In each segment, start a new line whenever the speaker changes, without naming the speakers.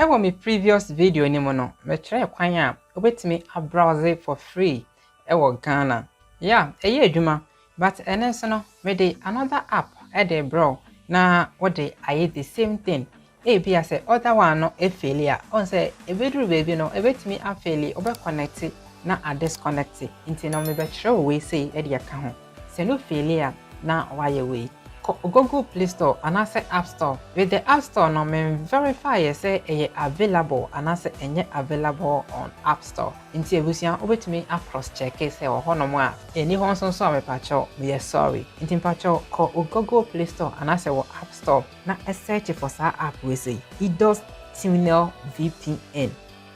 Wɔ me previous video no mu no, me kyerɛɛ kwan a wobɛtumi a browse for free wɔ Ghana. Yeah, ɛyɛ adwuma, but ɛno nso no mede another app de brɛ wo na wode ayɛ the same thing. Ebia sɛ other one no faili a, wohu sɛ ɛbɛduru baabi no ɛbɛtumi a faili, wobɛ connecti na a disconnecti, nti no mebɛkyerɛ wo wei sei de aka ho. Sɛ no feeli a na wayɛ wei. Kɔ Google play store anaasɛ app store. With the app store no men verify yɛ sɛ ɛyɛ available anaasɛ ɛnyɛ available on app store. Nti abusua wobɛtumi a cross check sɛ ɛwɔ hɔ nom a. Ɛnni hɔ nso nso a mepakyɛw meyɛ sorry. Nti mepakyɛw kɔ wo Google play store anaasɛ wɔ app store na search for saa app wei sei. Idos Tunnel VPN.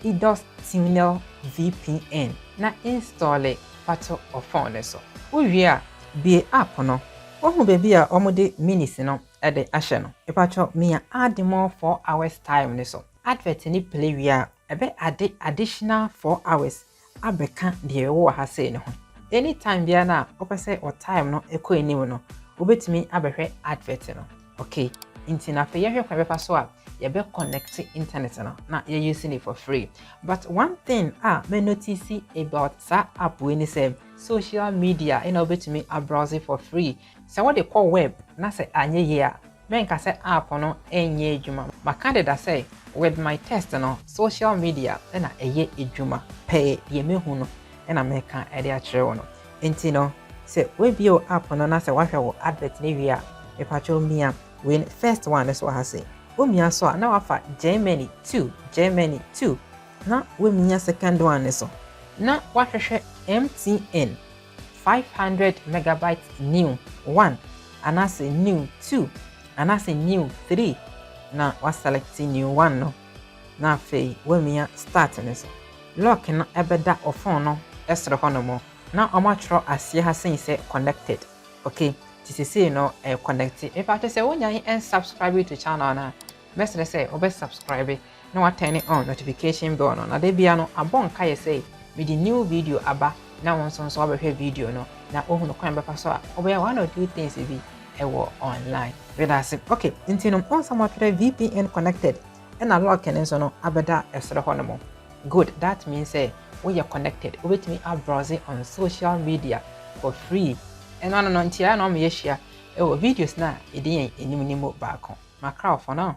Idos Tunnel VPN na installe fa to wo fon no so. Wowie a, bue app no. Woahu baabi a wɔde minutes no de ahyɛ no? Mepatrɔ mia add more four hours time no so. Advert no play wie a, ɛbɛ adde additional four hours abɛka deɛ yɛwɔ wɔ ha sei no ho. Any time biara no a wopɛ sɛ wo time no kɔ anim no, wobɛtumi abɛhwɛ advert no. Okay, nti no afei yɛnhwɛ kwan bɛfa so a yɛbɛ connect internet no na yɛ use no for free. But one thing a mɛ notice about saa app wei ne sɛ, social media na wobɛtumi a browse for free Sɛ wode kɔ wɛb na sɛ anyɛ yie a, mɛnka sɛ app no nyɛɛ adwuma. Maka deda sɛ with my test no, social media na ɛyɛ adwuma pɛɛ, deɛ mahu no na mɛka de akyerɛ wo no. Enti no, sɛ woabie wo app no na sɛ woahwɛ wo advert no awie a, mepakyɛw mia wei no, first one no so wɔ ha sei. Womia so a, na woafa Germany two, Germany two. Na woamia second one no so, na woahwehwɛ MTN. Five hundred megabyte new one anaasɛ new two anaasɛ new three na wa select new one no na afei wamia start no so. Lock no bɛda wo phone no soro hɔnom na wɔn atwerɛ aseɛ ha sei sɛ connected ok nti sesei no ɛɛ connecte. Mepakyɛ sɛ wo nyan nsubscribe to channel no a mɛsrɛ sɛ wo bɛ subscribe na wa turn on notification bell no na da bia no abɔ nkaeɛ sɛ mede new video aba na wo nso nso wabɛhwɛ video no na wohunu kwan bɛfa so a wobɛyɛ one or two things bi ɛwɔ online meda ase ok nti no ɔnsam ɔtwerɛ vpn connected ɛna lock no nso no abɛda ɛsoro hɔ no mo good that means sɛ woyɛ connected wobɛtumi abrowse on social media for free ɛno ano no ntiara na ɔmo yɛ hyia ɛwɔ videos na ɛdi yɛn anim no mu baako makra for now